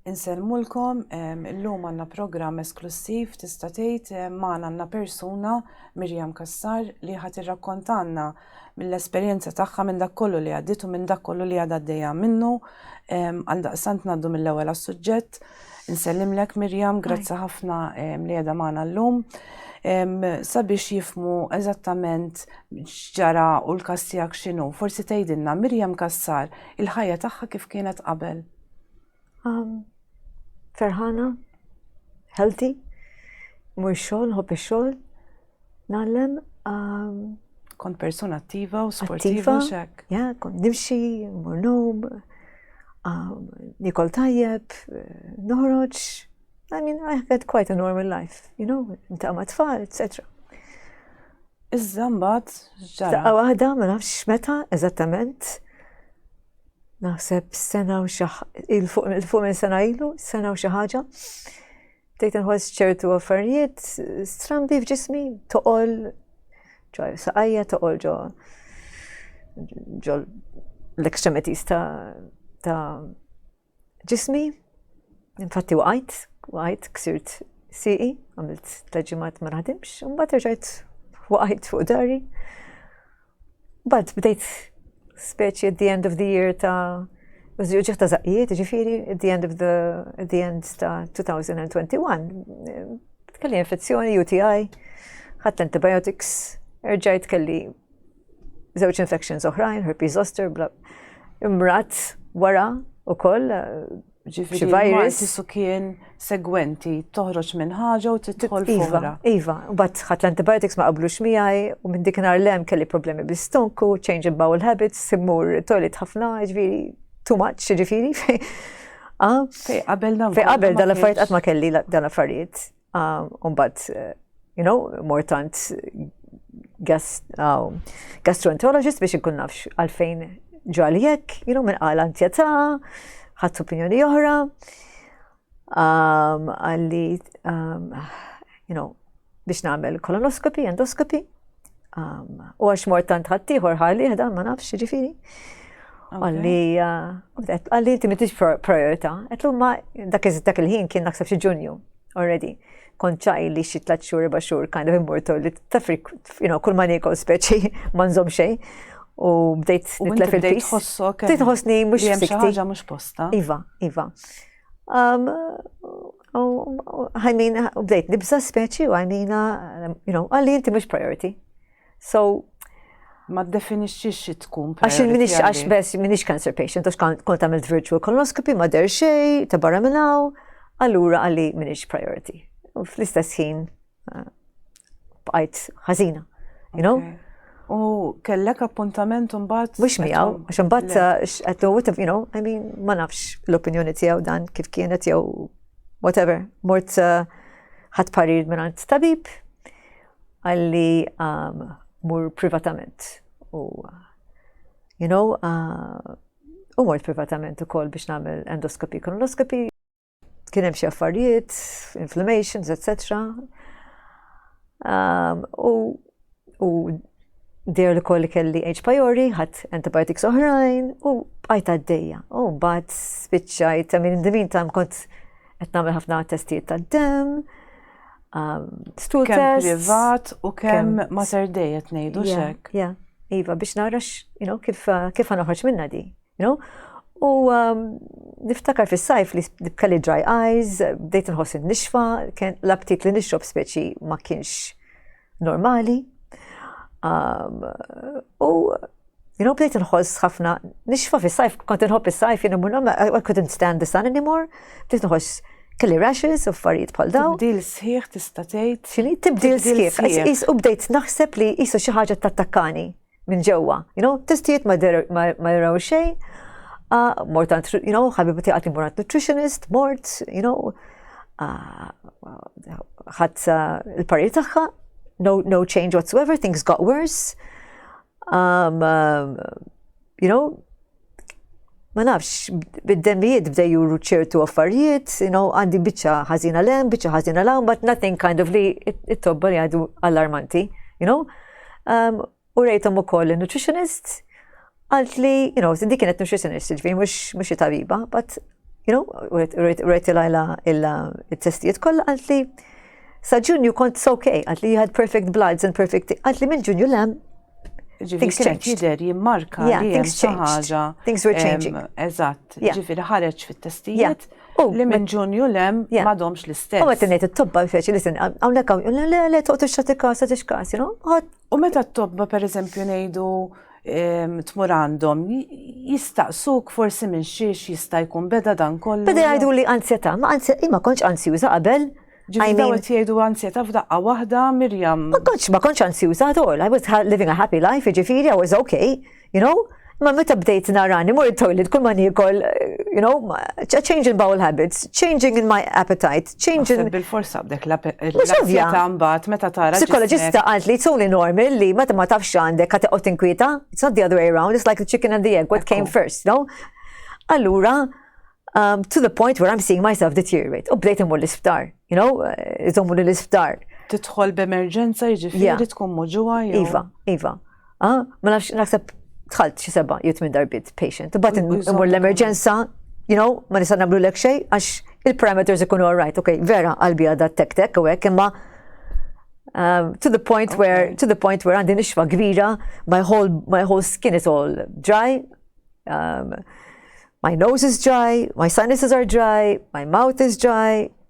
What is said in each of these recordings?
Insellmulkom, illum għandna programm esklussiv tista' tgħid magħna għandna persuna Mirjam Cassar li ħadd irrakkontalna mill-esperjenza tagħha minn dak kollu li għaddiet u minn dak kollu li għadha għaddejja minnu. Għal daqsant ngħaddu mill-ewwel għas-suġġett. Insellimlek Mirjam, grazzi ħafna li qiegħda magħna llum. Sabiex jifmu eżattament x'ġara u l-każ tiegħek x'inhu, forsi tgħidilna Mirjam Cassar Il-ħajja tagħha kif kienet qabel? Um, ferħana, healthy, mur xogħol, ħobb ix-xogħol, nagħlem. Um, kont persuna attiva u sportiva u xek. Ja, kont nimxi, mur nom, um, nikol tajjeb, noħroġ, I mean, I have had quite a normal life, you know, inta ma tfal, etc. Iżda mbagħad ġara. Daqqa waħda ma nafx meta eżattament. Naħseb sena u xi il-fuq minn sena ilu, sena u xi ħaġa. Tejt inħoss ċertu affarijiet strambi f'ġismi, toqol ġo saqajja, toqol ġo ġo l-ekstremitis ta' ġismi, infatti waqajt, waqajt, ksirt siqi, għamilt taġimat ma naħdimx, un bat rġajt waqajt fuq dari. Bad bdejt speċi at the end of the year ta' Uġiħ ta' zaqqiet, ġifiri, at the end of the, at the end ta' 2021, kelli infezzjoni, UTI, ħadd antibiotics, erġajt kelli żewġ infections oħrajn, herpes zoster, bla. Imrat wara u koll ġifiri virus. Su kien segwenti toħroġ minn ħaġa u titħol iva, fuqra. Iva, u bat ħat l-antibiotics ma qablu xmijaj, u minn dik nar lem kelli problemi bistonku, change in bowel habits, simmur toilet ħafna, ġifiri, too much, ġifiri. Ah? Fej qabel dan. Fej qabel dan affarijiet għat ma kelli dan affarijiet. Umbat, you know, mortant um, gastroenterologist biex nkun nafx għalfejn ġali jekk, you know, minn għal antjeta, ħadd opinjoni oħra, um, għalli, um, you know, biex nagħmel kolonoskopi, endoskopi, U għax mort tant ħaddieħor ħalli dan ma nafx ġifieri. Għalli, għalli inti mitix priorita. Għetlu ma dak il-ħin kien naksab xi ġunju, already. Konċaj li xi tlat xhur, erba' xhur, kind of immortal li tafrik, you know, kull ma nikol speċi, ma nżomm xejn u bdejt nitlef il-pis. Tħossok. Tħossni mux xi ħaġa mux posta. Iva, iva. U għajmina, u bdejt nibza speċi u għajmina, you know, għalli inti mux priority. So, ma definixxi xi tkun. Għax minix għax bes minix cancer patient, għax kont għamilt virtual colonoscopy, ma der xej, ta' barra minnaw, allura għalli minix priority. U fl-istess ħin bqajt ħażina. You know? Okay. U kellek appuntament mbagħad. Mhux miegħu, għax imbagħad eh, qed whatever, you know, I mean, ma nafx l-opinjoni tiegħu dan kif kienet jew whatever. Mort eh, ħadd parir minn tabib għalli um, mur privatament. U, you know, uh, u mort privatament ukoll biex nagħmel endoskopi, kolonoskopi, Kien hemm xi affarijiet, inflammations, etc. Um, u u der li koll kelli H. pylori, ħadd antibiotics oħrajn u bqajt għaddejja. U mbagħad spiċċajt, I mean, in the meantime kont qed nagħmel ħafna testijiet tad-dem, um, stool test. Kemm privat u kemm mater dejja tnejdu xek. Ja, iva, biex narax, you know, kif, kif għanoħroġ minna di. No? U um, niftakar fis sajf li kelli dry eyes, bdejt nħoss nixfa, l-aptit li nixrob speċi ma kienx normali. Um, u jina bdejt nħoss ħafna nixfa fis sajf kont nħobb is sajf jina mur I couldn't stand the sun anymore, bdejt nħoss kelli rashes u affarijiet bħal daw. Tibdil sħiħ tista' tgħid. Xini tibdil sħiħ, is u bdejt naħseb li qisu xi ħaġa tattakkani. minn ġewwa. You know, testijiet ma jaraw xejn, mort għand, you know, ħabibu tiegħek li mort nutritionist, mort, you know, ħadd il-parir tagħha, no, no change whatsoever, things got worse. Um, um, you know, ma nafx, bid-demmijiet bdew juru ċertu affarijiet, you know, għandi biċċa ħażina lem, biċċa ħażina lawn, but nothing kind of li it-tobba li għadu allarmanti, you know. Um, u rejtom u koll nutritionist, għalt li, you know, dik kienet nutritionist, ġviri mux mux tabiba, but, you know, rejt il-għajla il-testijiet koll għalt li Sa Ġunju kont ok, għat li jħad perfect bloods and perfect, għat li mill-Ġunju lem. Things changed. Jider jimmarka yeah, li things changed. Things were changing. Eżatt, yeah. ġifiri ħareġ fit-testijiet. Yeah. Li minn ġunju lem yeah. madomx l-istess. U għet nejt il-tobba feċi li sen, għawnek għaw, le, le, toqt il-xati kasa, tix kas, you know? U meta t-tobba, per eżempju, nejdu tmur għandhom jistaqsuk forsi minn xiex jista' jkun beda dan kollu. Beda jgħidu li ansjeta, ma ansjeta, ma konċ ansjuża qabel. Ġifieri daw qed jgħidu ansjeta f'daqqa waħda Mirjam. Ma konċ ma konċ ansjuża at all. I was living a happy life, ġifieri I was okay, you know? Ma meta bdejt narani, mur il-toilet, kull ma nikol, you know, changing bowel habits, changing in my appetite, change in. Bil-forsa b'dek la ta' mbagħad meta tara. Psikoloġista qalt li it's only normal li meta ma tafx għandek ka teqgħod tinkwieta, it's not the other way around, it's like the chicken and the egg, what came first, no? Allura, um, to the point where I'm seeing myself deteriorate. U bdejt imur l-isptar, you know, eh, iżommu l-isptar. Tidħol b'emerġenza jiġifieri tkun muġuwa. Iva, iva. Ah, ma nafx, naħseb tħalt xi seba' jew tmien darbit patient. Imbagħad imur l-emerġenza, you know, ma nista' nagħmlu lek xejn għax il-parameters ikunu all right, okay, vera qalbi għadha tek tek u hekk imma um, to the point where to the point where għandi nixfa kbira, my whole my whole skin is all dry. Um, my nose is dry, my sinuses are dry, my mouth is dry,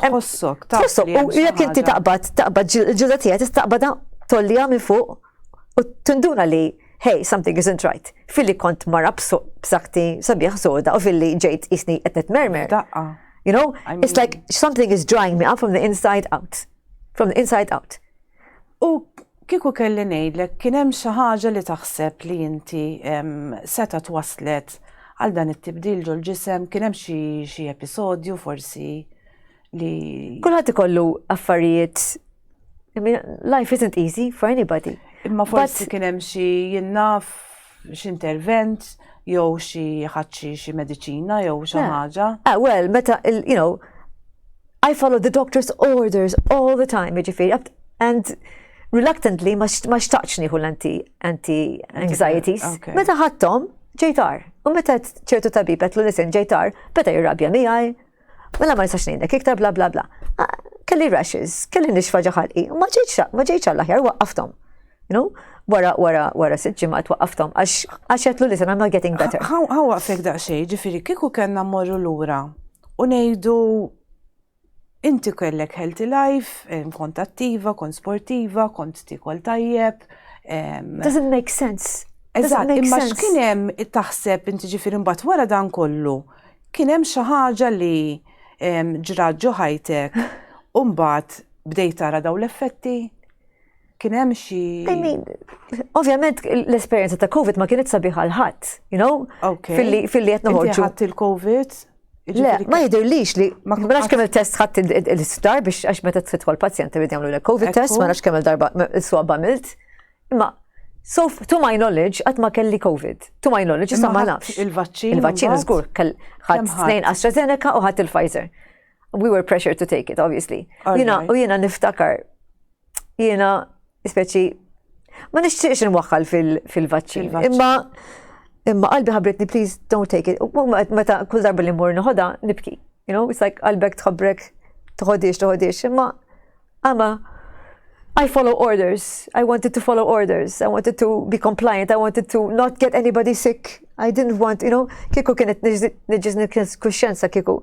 tħossok taf. Tħossok u jekk inti taqbad taqbad ġilda tiegħek tista' taqbadha tolliha minn fuq u tinduna li hey, something isn't right. Filli kont mara b'sakti sabiħ soda u filli ġejt isni qed nitmermer. Daqqa. You know, it's like something is drying me up from the inside out. From the inside out. U kieku kelli ngħidlek kien hemm xi ħaġa li taħseb li inti seta' twasslet għal dan it-tibdil ġol-ġisem, kien hemm xi episodju forsi li. Kulħadd ikollu affarijiet I mean, life isn't easy for anybody. Imma forsi kien hemm xi jien naf. x'intervent jew xi ħadd xi mediċina jew xi ħaġa. Ah, well, meta you know, I follow the doctor's orders all the time, jiġifieri, and reluctantly ma xtaqx nieħu l-anti anti anxieties. Meta ħadthom ġejtar. U meta ċertu tabib qed l-listen ġejtar, beta jirrabja miegħi, Mela ma nistax ngħidlek iktar bla bla bla. Ah, kelli rashes, kelli nixfa ġaħalqi, ma ġejċ ma ġejċ għall-aħjar waqqaftom. No? Wara wara wara sitt ġimgħat waqqaftom għax għax qed li I'm not getting better. Ħa waqfek daqsxejn, ġifieri kieku kellna mmorru lura u ngħidu inti kellek healthy life, kont attiva, kont sportiva, kont tikol tajjeb. Doesn't make sense. Eżatt, imma x'kien hemm taħseb inti ġifieri mbagħad wara dan kollu Kien hemm xi ħaġa li ġrat ġo ħajtek u mbagħad bdejt tara daw l-effetti? Kien hemm xi. I mean, ovvjament l-esperjenza ta' COVID ma kienet sabiħ għal ħadd, you know? Okay. Filli filli qed noħorġu. Inti ħadd il-COVID? Le, ma jidhirlix li ma nafx kemm il-test ħadd il-isptar biex għax meta tfitħol pazjent irid jagħmlu l-COVID test, ma nafx kemm il-darba iswa bamilt. Imma So, to my knowledge, għat ma kelli COVID. To my knowledge, issa ma nafx. Il-vaċċin. Il-vaċċin, zgur, ħadd snejn AstraZeneca u ħadd il-Pfizer. We were pressured to take it, obviously. Jina, u jina niftakar, jina, speċi, ma nixtieqx nwaħħal fil-vaċċin. Imma, imma qalbi ħabritni, please don't take it. Meta kull darba li mmur nħoda, nibki. You know, it's like qalbek tħobrek, tħodix, tħodix, imma Ama, I follow orders, I wanted to follow orders, I wanted to be compliant, I wanted to not get anybody sick, I didn't want, you know, kieku kienet nġiz kuxjenza kieku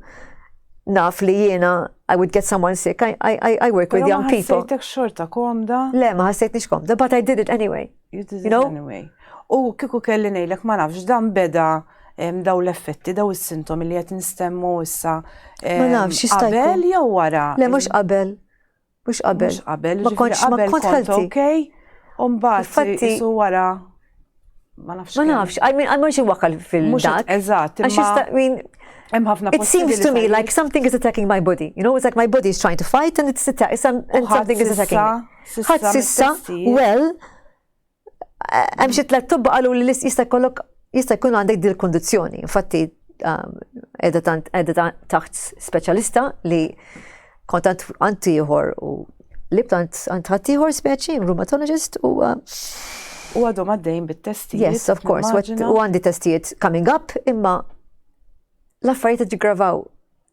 naf li jiena I would get someone sick, I, I, I work with young people. Ma xorta komda? Le, ma ħassejt nix komda, but I did it anyway. U kiku kelli ngħidlek ma nafx dan beda daw l-effetti, daw is-sintomi li qed nistemmu issa. Ma nafx jista' qabel jew wara. Le mhux qabel. Mhux qabel. Mhux qabel. Ma kontx ma kont ħelti. Okej. U mbagħad isu wara ma nafx. Ma nafx, I mean, għal xi wakal fil-dak. Eżatt. Għax jista' min. Hemm ħafna It seems to me like something is attacking my body. You know, it's like my body is trying to fight and it's attacking something is attacking. Ħadd sissa, well, hemm xi tliet tobba qalu li jista' jkollok jista' jkun għandek dil kondizzjoni. Infatti qiegħda um, taħt speċjalista li kont għand ieħor u li btant għand ħadd ieħor speċi, rheumatologist u uh, U għadhom għaddejn bit-testijiet. Yes, of course, u għandi testijiet coming up, imma l-affarijiet ġigravaw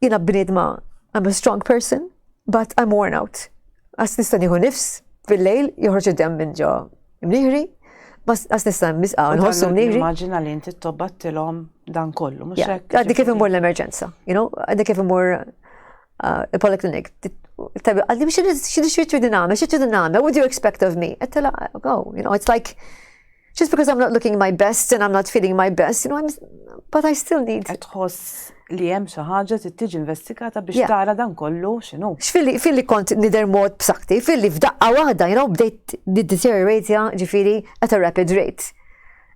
Jiena bniedma I'm a strong person, but I'm worn out. Għas nista' nieħu nifs fil-lejl joħroġ id-dem minn ġo mniħri, bas għas nista' nisqa' nħossu mniħri. Immaġina li inti tobbattilhom dan kollu, mhux hekk. Għaddi kif imur l-emerġenza, you know, għaddi kif imur uh, il-poliklinik. Tabi, għaddi biex xidix xitri diname, xitri diname, what do you expect of me? Għattela, oh, you know, it's like, Just because I'm not looking my best and I'm not feeling my best, you know, I'm, but I still need. Tħoss li hemm xi ħaġa trid tiġi investigata biex tara dan kollu x'inhu. X'filli filli kont nidher mod b'sakti, filli f'daqqa waħda, you know, bdejt deterioratja ġifieri at a rapid rate.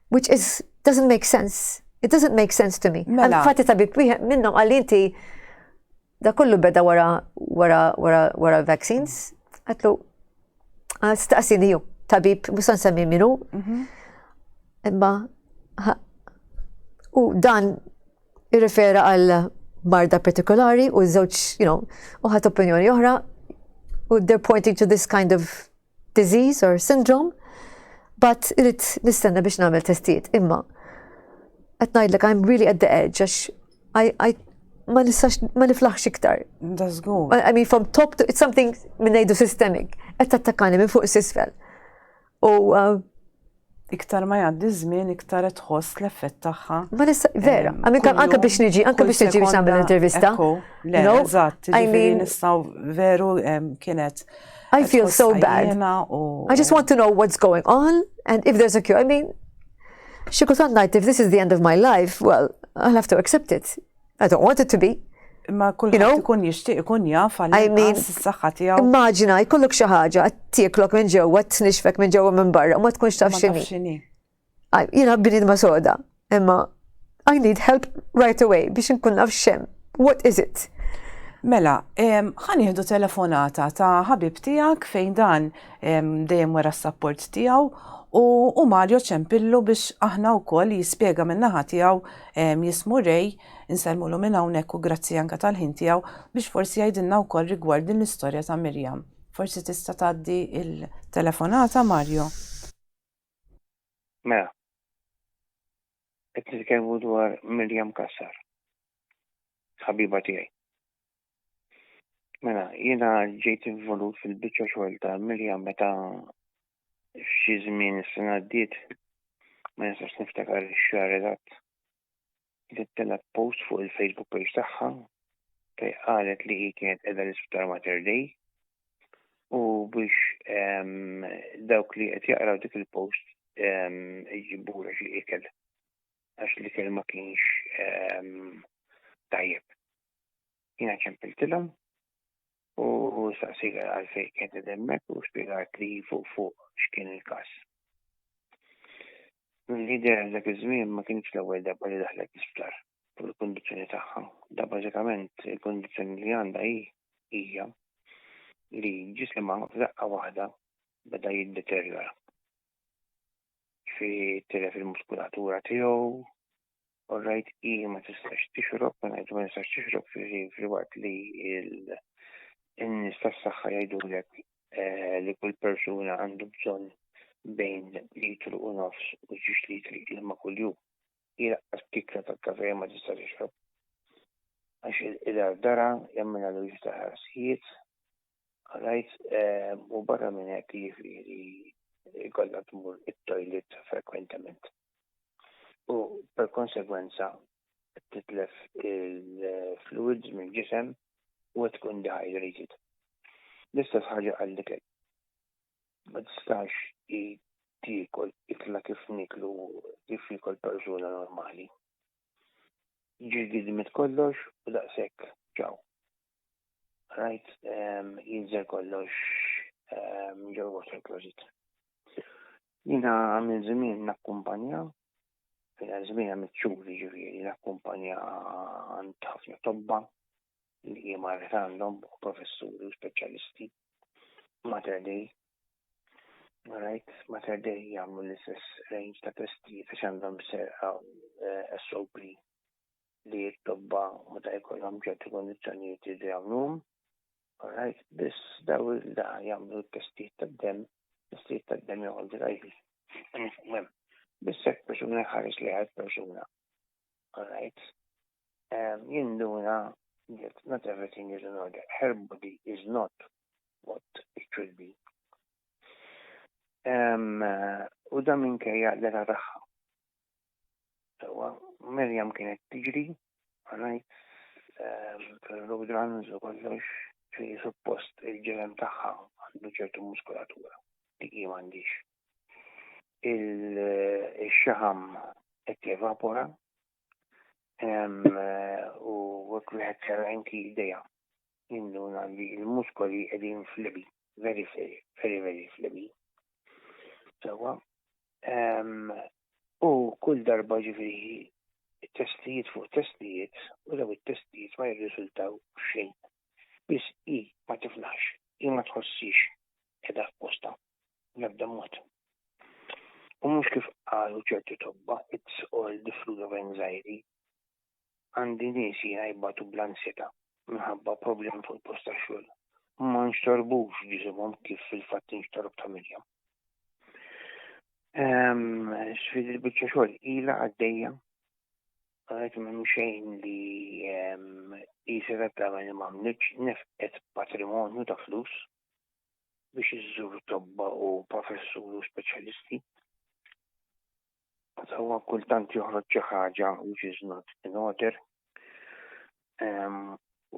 Which is doesn't make sense. It doesn't make sense to me. Mela. Fatti tabib wieħed minnhom għal inti Da kollu beda wara wara wara wara vaccines, għatlu staqsini ju, tabib, musan semmi minu, mhm. imma u dan irrifera għal marda partikolari u żewġ, you know, uħat opinjoni oħra u they're pointing to this kind of disease or syndrome, but irrid nistenna biex nagħmel testijiet. Imma qed ngħidlek I'm really at the edge għax I, ma nistax ma niflaħx iktar. That's good. I mean from top to it's something minn ngħidu systemic. Qed tattakani minn fuq is-isfel. U uh, iktar ma jgħaddi żmien iktar qed tħoss l-effett tagħha. Ma nista' vera, anke biex niġi, anke biex niġi biex nagħmel intervista. Le, eżatt, ġifieri nistgħu veru kienet. I feel so bad. I just want to know what's going on and if there's a cure. I mean, xi kultant ngħid if this is the end of my life, well, I'll have to accept it. I don't want it to be. Imma kulħadd ikun jixtieq ikun jaf għal s-saħħa tiegħu. Immaġina jkollok xi ħaġa tieklok minn ġewwa tnixfek minn ġewwa minn barra ma tkunx taf x'inhi. Jiena bnid ma soda, imma I need help right away biex nkun naf xem. What is it? Mela, ħan jihdu telefonata ta' ħabib tijak fejn dan dejjem wara s-sapport tijaw u Mario ċempillu biex aħna u koll jispiega minnaħa tijaw Jismu Ray, insellmulu minn hawnhekk u grazzi anke tal-ħin tiegħu, biex forsi jgħidilna wkoll rigward din l-istorja ta' Miriam. Forsi tista' tgħaddi l-telefonata, Mario? Mela. Qed nitkellmu dwar Miriam Cassar. Ħabiba tiegħi. Mela, jiena ġejt involut fil-biċċa xogħol ta' Miriam meta f'xi żmien is-sena għaddiet ma nistax niftakar ix-xahar eżatt li telgħet post fuq il-Facebook page tagħha fejn qalet li hi kienet qiegħda l-Isptar Mater Dei u biex ehm, dawk li qed jaqraw dik il-post ehm, iġibura xi ikel għax li kelma kienx ehm, tajjeb. Jina ċempiltilhom u saqsik għalfejn kien qed hemmhekk u spjegat li fuq fuq x'kien il-każ. L-lider għal dak iż-żmien ma kienx l-ewwel darba li daħlet l-isptar fuq il-kundizzjoni tagħha. Da bażikament il-kundizzjoni li għandha hi hija li ġisimha f'daqqa waħda beda jiddeterjora. Fi tilef il-muskulatura tiegħu, All right, i ma tistax tixrob, ma ngħidu ma tistax tixrob fil-waqt li n-nies tas-saħħa jgħidulek eh, li kull persuna għandu bżonn bejn litru u nofs u ġiex litri ilma kuljum. Jilqas tikla ta' kafe ma tista' tixrob. Għax il-ardara jemmina l ta' ħarsijiet, għalajt eh, u barra minn hekk jiġifieri jkollha tmur it-toilet frekwentament. u per konsegwenza titlef il-fluids mill-ġisem u tkun dehydrated. L-istess ħaġa għall-ikel. Ma tistax tiekol ikla kif niklu kif jiekol persuna normali. Ġilgidmet kollox u daqshekk ċaw. Rajt ehm, jinżel kollox ehm, ġew water closet. Jina għamil żmien nakkumpanja, fina żmien għamil ċuri ġifieri nakkumpanja għand ħafna tobba li jima għandhom u professuri u speċjalisti. Mater Dei, Right, Mater Dei jgħamlu l-istess range ta' testijiet għax għandhom serqa eh, SOP li t-tobba meta jkollhom ċertu kondizzjonijiet jridu jagħmluhom. Alright, biss daw il-da jagħmlu t-testijiet tad-demm, testijiet tad-demm joqogħdu rajħi. Biss hekk persuna jħares li għad persuna. Alright. Um, jinduna that not everything is in order. Her body is not what it should be. Um, u da minkejja l-era tagħha. Sewa, Miriam kienet tiġri, għanajt, ehm, fil-road runs u kollox, ġifieri suppost il-ġelem tagħha għandu ċertu muskulatura, dik hi m'għandix. Il-xaħam qed jevapora, ehm, u wieħed serra anki jdejha. Ninduna li l-muskoli qegħdin flibi, very very very flibi. Sewwa. U kull darba ġifieri testijiet fuq testijiet u daw it-testijiet ma jirriżultaw xejn. Biss hi ma tiflaħx, hi ma tħossix qiegħda f'postha bl-ebda mod. U mhux kif qalu ċerti tobba, it's all the fruit of anxiety. Għandi nies jiena jbatu bl-ansjetà minħabba problemi fuq il-post tax-xogħol. Huma nxtorbux ġisimhom kif fil-fatt inxtorob ta' Mirjam. Ehm, Sfidi l-biċċa xogħol ilha għaddejja għalet minn xejn li ehm, jisir għattama li mamniċ nefqet patrimonju ta' flus biex iżżur tobba u professur u speċjalisti. Huwa kultant joħroġ xi ħaġa which is not in order.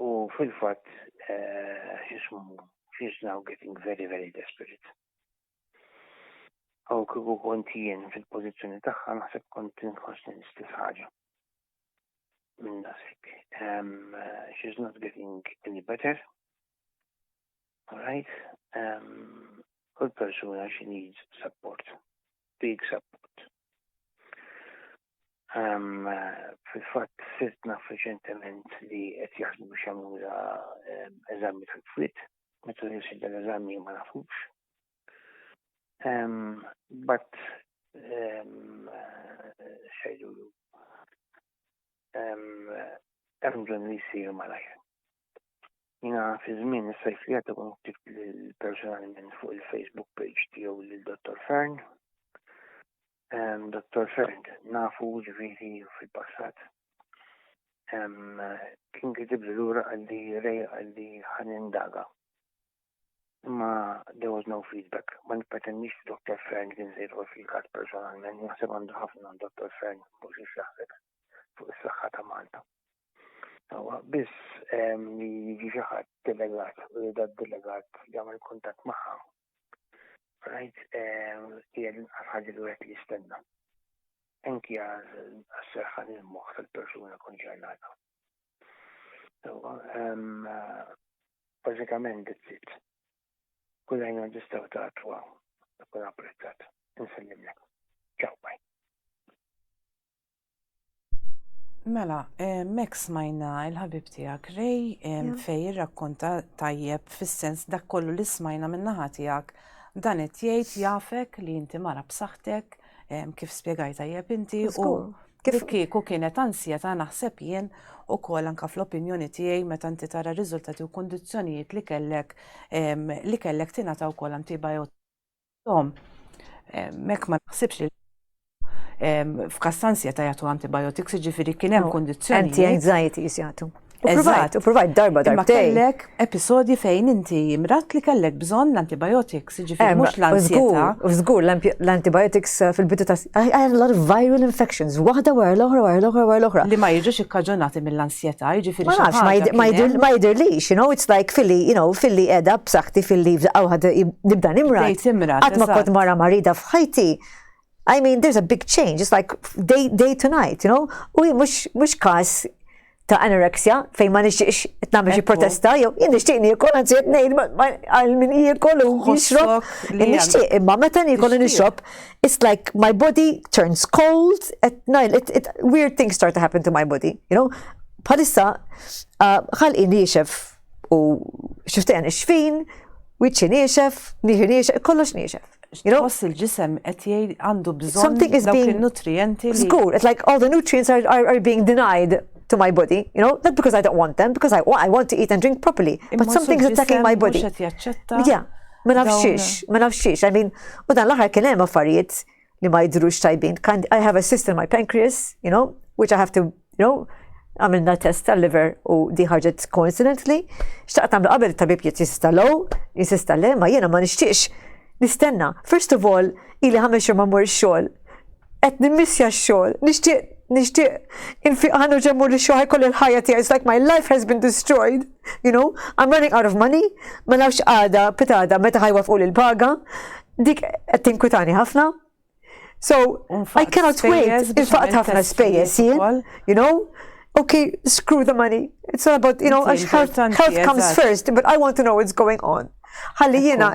U fil-fatt eh, xismu she's now getting very very desperate. Aw kieku kont jien fil-pożizzjoni tagħha naħseb kont inħossni l-istess ħaġa. Minn dasek. She's not getting any better. Alright, um, kull persuna she needs support, big support. Um, Fil-fat sirt naf reċentement li qed jaħdmu biex jagħmlu um, eżami tal-frit, meta jinsi l-eżami ma nafux. Um, but um, xejdu um, hemm bżonn li jsir malajr. Jina fi żmien is-sajf li għadda kun ktibt personalment fuq il-Facebook page tiegħu lil Dottor Fern. Dottor Fern nafu ġifieri fil-passat. Kien kitib li lura għalli rej għalli ħan indaga. Imma there was no feedback. Ma nipretendix li Dottor Fern kien se jidħol fil-każ personalment, naħseb għandu ħafna Dottor Fern mhux jaħseb fuq is-saħħa ta' Malta. Sawa, biss li jiġi xi ħadd delegat u li dat delegat jagħmel kuntatt magħha. Rajt hija l-inqas ħaġa li wieħed jistenna. Anki għas-serħan il-moħħ tal-persuna konċernata. Sawa, bażikament it-sitt. Kull għajna ġistaw ta' twa, kun apprezzat. Insellimlek. Ciao, bye. Mela, mek smajna il-ħabib tijak Rej fej rakkonta tajjeb fis-sens dak kollu li smajna minnaħa tijak dan qed jgħid jafek li inti mara b'saħħtek kif spjegaj tajjeb inti u kif kieku kienet ansjeta naħseb jien u kol anka fl-opinjoni tiegħi meta inti tara riżultati u kondizzjonijiet li kellek li kellek tingħata wkoll antibiotics Tom, mek ma naħsibx li f'Kastanzja ta' jagħtu antibiotics, ġifieri kien hemm kondizzjoni. Anti-anxiety jagħtu. Eżatt, u provajt darba darba. Ma kellek episodji fejn inti mrat li kellek bżonn l-antibiotics, ġifieri mhux l-ansieta. Żgur, l-antibiotics eh, fil-bidu ta' I had a lot of viral infections, waħda wara l-oħra, wara l-oħra, wara l-oħra. Li ma jiġux ikkaġunati mill seta, jiġifieri xi ħaġa. Ma nafx, ma jidhirlix, you know, it's like filli, you know, filli qiegħda b'saħħti filli f'daqqa waħda nibda nimra. Qatt ma kont mara marida f'ħajti. I mean, there's a big change. It's like day, day to night, you know? U mux, mux kas ta' anorexia fejn ma nixtieqx qed nagħmel xi protesta jew jien nixtieq niekol anzi qed ngħid għal min jiekol u jixrob. Nixtieq imma meta niekol u nixrob it's like my body turns cold, at night, it, it, weird things start to happen to my body, you know? Bħalissa, uh, ħalqi niexef u xiftajn xfin, wiċċi niexef, nieħi niexef, kollox niexef. You know? Boss il-ġisem qed jgħid għandu bżonn something is being nutrienti. Skur, it's like all the nutrients are, are, are being denied to my body, you know, not because I don't want them, because I, I want to eat and drink properly, but something's attacking my body. Yeah. Ma nafx xiex, ma nafx xiex, I mean, u dan l-aħħar kien hemm affarijiet li ma jidrux tajbin. I have a cyst in my pancreas, you know, which I have to, you know, għamilna test tal-liver u di ħarġet coincidentally. Xtaqt għamlu qabel tabib jiet jista low, jista le, ma jena ma nixtiex nistenna. First of all, ili ħames xhur ma mur xogħol. qed nimmissja x-xogħol. Nixtieq nixtieq infiq ħanu ġemmu li xogħol kolli l-ħajja tiegħi. It's like my life has been destroyed, you know, I'm running out of money, ma nafx għada, pitada, meta ħajwa fuq il-paga, dik qed tinkwitani ħafna. So, I cannot wait, il-faqt ħafna spejjeż jien, you know, okay, screw the money. It's all about, you know, health, health comes first, but I want to know what's going on. Ħalli jiena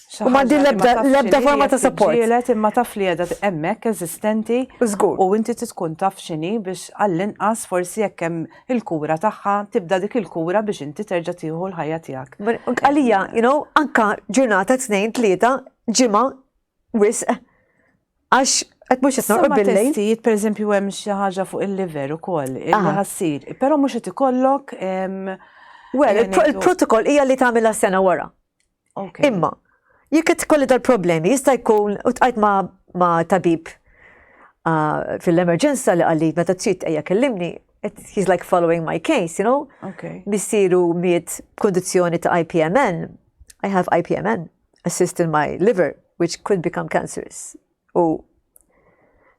U ma din l-ebda forma ta' support. Ġielet imma taf li għedha emmek eżistenti. Zgur. U inti tkun taf xini biex għall-inqas forsi jekk hemm il-kura tagħha tibda dik il-kura biex inti terġa' tieħu l-ħajja tiegħek. Għalija, you know, anka ġurnata tnejn tlieta ġimgħa wisq għax qed mhux qed norqod billi. Testijiet pereżempju hemm xi ħaġa fuq il-liver ukoll, il-ħassir, però mhux qed ikollok. Well, il-protokoll hija li tagħmilha sena wara. Imma, jekk qed tkolli dal-problemi, jista' jkun u tqajt ma' tabib fil-emerġenza li qalli meta trid ejja kellimni, he's like following my case, you know? Okay. Missiru miet kondizjoni ta' IPMN, I have IPMN, a cyst in my liver, which could become cancerous. u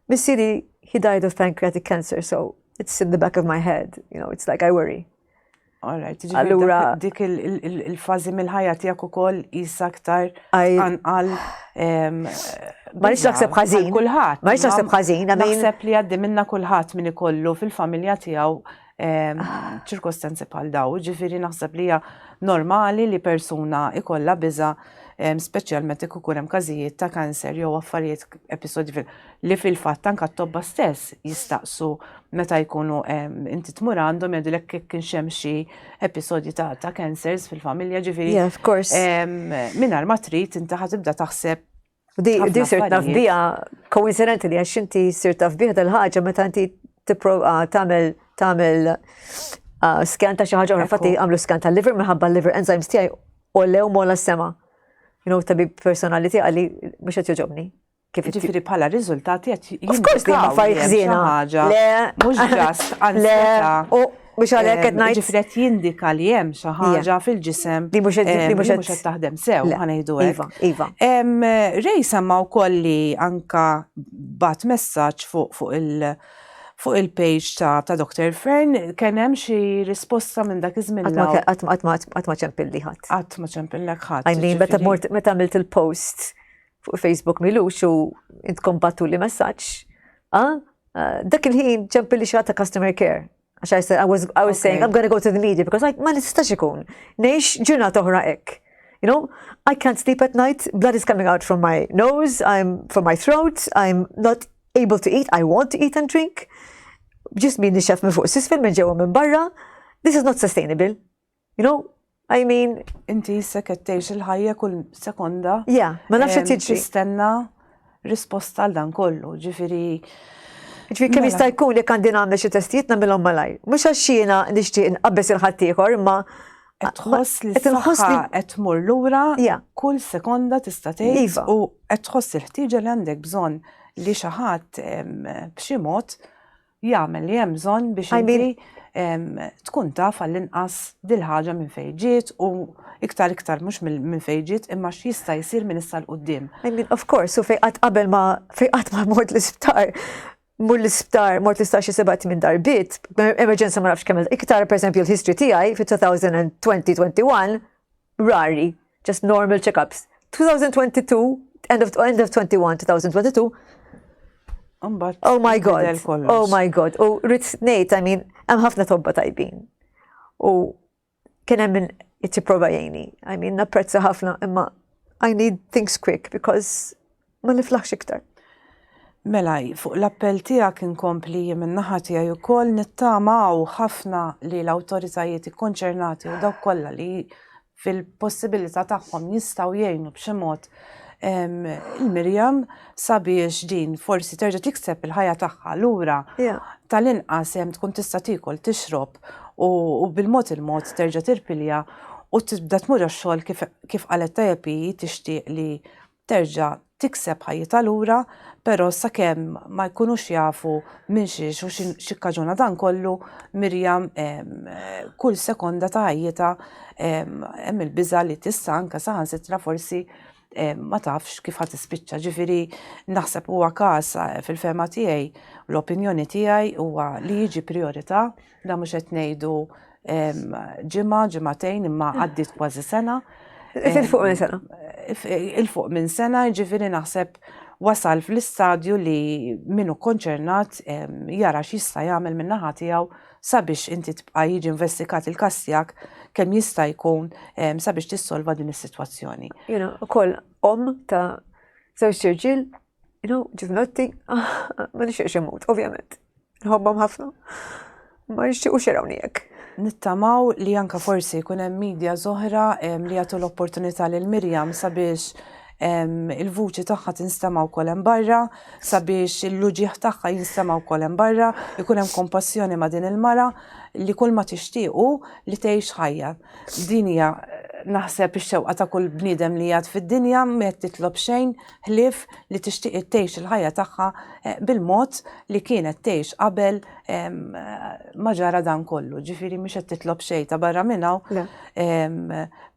missieri he died of pancreatic cancer, so it's in the back of my head, you know, it's like I worry. Alright, allura dik il-fazi mill-ħajja tiegħek ukoll jisa aktar anqal ma nix naħseb ħażin. Kulħadd. Ma nix naħseb ħażin. Naħseb li għaddi minna kulħadd min ikollu fil-familja tiegħu ċirkostanzi bħal daw, ġifiri naħseb li hija normali li persuna ikolla biża' speċjalment ikun ikun hemm każijiet ta' kanser jew affarijiet episodji li fil-fatt anke t-tobba stess jistaqsu meta jkunu inti tmur għandhom jgħidilek kif kien hemm xi episodji ta' ta' cancers fil-familja ġifieri. Yeah, of course. Mingħajr ma trid inti ħatibda taħseb Di sirt naf bija, koincidenti li għax inti sirt naf bija tal-ħagġa meta inti tipprova tagħmel tagħmel ah, skan ta' xi ħaġa oħra, fatti għamlu skan tal-liver minħabba l-liver enzymes tiegħi u lew mola s-sema. You know, tabib personali tiegħi għalli mhux qed joġobni. Kif ġifiri bħala riżultati qed Of course li ma fajt ħżiena. Le, mhux ġast, anzjeta. Mhux għalhekk qed ngħid. Ġifieri qed jindika li hemm xi ħaġa fil-ġisem li mhux qed taħdem sew, ħanejdu hekk. Iva, iva. Rej semma wkoll li anka bat messaġġ fuq il- fuq il-page ta', ta Dr. Fern kien hemm xi risposta minn dak iż-żmien. Qatt ma ċempilli ħadd. Qatt ma ċempillek ħadd. Għajni, meta mort meta għamilt il-post fuq Facebook milux u intkom battu li messaġġ. Ah, ah, dak il-ħin ċempil li xata customer care. Għax I said, I was, I was saying, I'm gonna go to the media because like, ma nistax ikun. Nejx ġuna toħra ek. You know, I can't sleep at night, blood is coming out from my nose, I'm from my throat, I'm not able to eat, I want to eat and drink. Ġismi nixef minn fuq sisfel minn ġewa minn barra. This is not sustainable. You know, I mean. Inti issa kettejx il-ħajja kull sekonda. Ja, ma nafx qed jiġri. Tistenna risposta għal dan kollu, ġifieri. Ġifieri kemm mela. jista' jkun jekk għandi nagħmel xi testijiet nagħmilhom malaj. Mhux għax jiena nixtieq inqabbes il-ħadd ieħor, imma tħoss li tħoss li qed tmur lura kull sekonda tista' tgħid iva. u qed tħoss il-ħtieġa li għandek bżonn li xi ħadd b'xi mod jagħmel li hemm bżonn biex inti tkun taf għall-inqas dil-ħaġa minn fejn ġiet u iktar iktar mhux minn fejn ġiet imma x'jista' jsir minn issa l qudiem I mean, of course, u fejqat qabel ma fejqat ma mort l-isptar mur l-isptar, mort l-isptar xi sebat minn darbit, emerġenza ma nafx kemm iktar, per esempio, l-history tiegħi fit-2020-21, rari, just normal check-ups. 2022, end of, end of 21, 2022, oh my god, oh my god, u rrit nejt, I mean, hemm ħafna tobba tajbin. U kien hemm minn prova jgħini. I mean, napprezza ħafna, imma I need things quick because ma niflaħx iktar. Mela, fuq l-appell tiegħek inkompli jien min-naħa tiegħi wkoll nittamaw ħafna li l-awtoritajiet ikkonċernati u dawk kollha li fil-possibilità tagħhom jistgħu jgħinu b'xi mod il-Mirjam sabiex din forsi terġa' tikseb il-ħajja tagħha lura tal-inqas hemm tkun tista' tiekol tixrob u bil-mod il-mod terġa' tirpilja u tibda tmur għax-xogħol kif qalet tajjeb tixtieq li terġa' tikseb ħajjitha lura, però sakemm ma jkunux jafu minn xiex u x'ikkaġuna dan kollu, Miriam kull sekonda ta' ħajjitha hemm il-biża' li tista' anke saħansitra forsi ma tafx kif ħadd ispiċċa. Ġifieri naħseb huwa każ fil-fehma tiegħi, l-opinjoni tiegħi huwa li jiġi priorità Da mhux qed ngħidu ġimgħa, ġimgħatejn imma għaddiet kważi sena. Il-fuq minn sena. Il-fuq minn sena, ġifieri naħseb wasal fl-istadju li minnu konċernat jara x'jista' jagħmel minn naħa tiegħu sabiex inti tibqa' jiġi investigat il-każ tiegħek kemm jista' jkun sabiex tissolva din is-sitwazzjoni. Jiena ukoll om ta' żewġ irġiel, you know, ġivnotti, ma nixtieqx imut, ovvjament. Nħobbhom ħafna. Ma nixtiequx jarawni hekk. Nittamaw li anka forsi jkun hemm media zoħra li jagħtu l-opportunità lil Mirjam sabiex il-vuċi tagħha tinstema' wkoll hemm barra, sabiex il-luġieħ tagħha jinstema' wkoll hemm barra, ikun hemm kompassjoni ma' din il-mara li kull ma tixtiequ li tgħix ħajja. Din hija naħseb ix-xewqa ta' kull bniedem li jgħad fid-dinja, ma qed titlob xejn, ħlief li tixtieq tgħix il-ħajja tagħha bil-mod li kienet tgħix qabel ma ġara dan kollu, ġifieri mhix qed titlob xejn ta' barra minn hawn.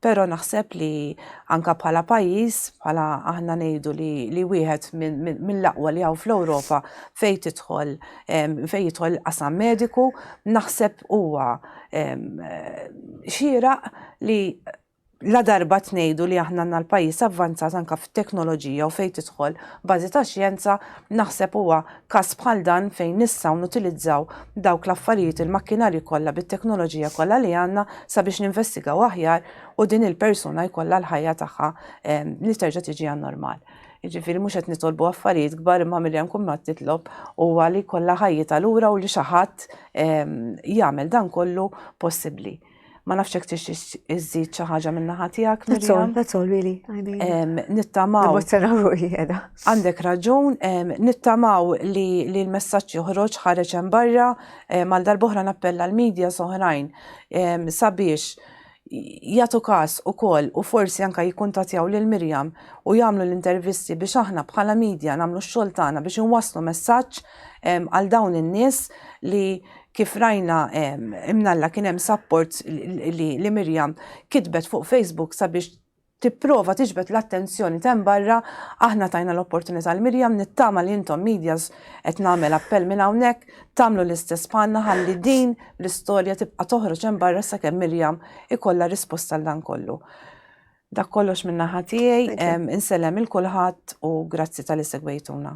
Però naħseb li anka bħala pajjiż, bħala aħna ngħidu li wieħed mill-aqwa li hawn fl-Ewropa fejn tidħol fejn jidħol qasam mediku, naħseb huwa xieraq li Ladarba qed ngħidu li aħna għandna l-pajjiż avvanzat anke fit-teknoloġija u fejn tidħol bażi ta' xjenza, naħseb huwa każ bħal dan fejn nistgħu nutilizzaw dawk l-affarijiet il-makkinarji kollha bit-teknoloġija kollha li għandna sabiex ninvestigaw aħjar u din il-persuna jkollha l-ħajja tagħha li terġa' tiġi għan-normal. Jiġifieri mhux qed nitolbu affarijiet kbar imma milli hemm kun qed nitlob huwa li jkollha ħajjitha lura u li xi ħadd jagħmel dan kollu possibbli. Ma nafx hekk tixtiex iżżid xi ħaġa minn naħa tiegħek. That's all, that's all really. I mean. Nittamaw. Għandek raġun, nittamaw li l-messaġġ joħroġ ħareġ hemm barra mal darboħra nappella l-medja soħrajn sabiex jagħtu każ ukoll u forsi anke jikkuntatjaw lil Mirjam u jagħmlu l-intervisti biex aħna bħala medja nagħmlu x-xogħol tagħna biex inwasslu messaġġ għal dawn in-nies li kif rajna imnalla kien hemm support li, li Mirjam kitbet fuq Facebook sabiex tipprova tiġbed l-attenzjoni ta' barra, aħna tajna l-opportunità l Mirjam nittama li intom medias qed nagħmel appell minn hawnhekk tagħmlu l-istess bħalna ħalli din l-istorja tibqa' toħroġ hemm barra sakemm Mirjam ikollha risposta għal dan kollu. Dak kollox minn naħa tiegħi, insellem il kulħadd u grazzi tal-isegwejtuna.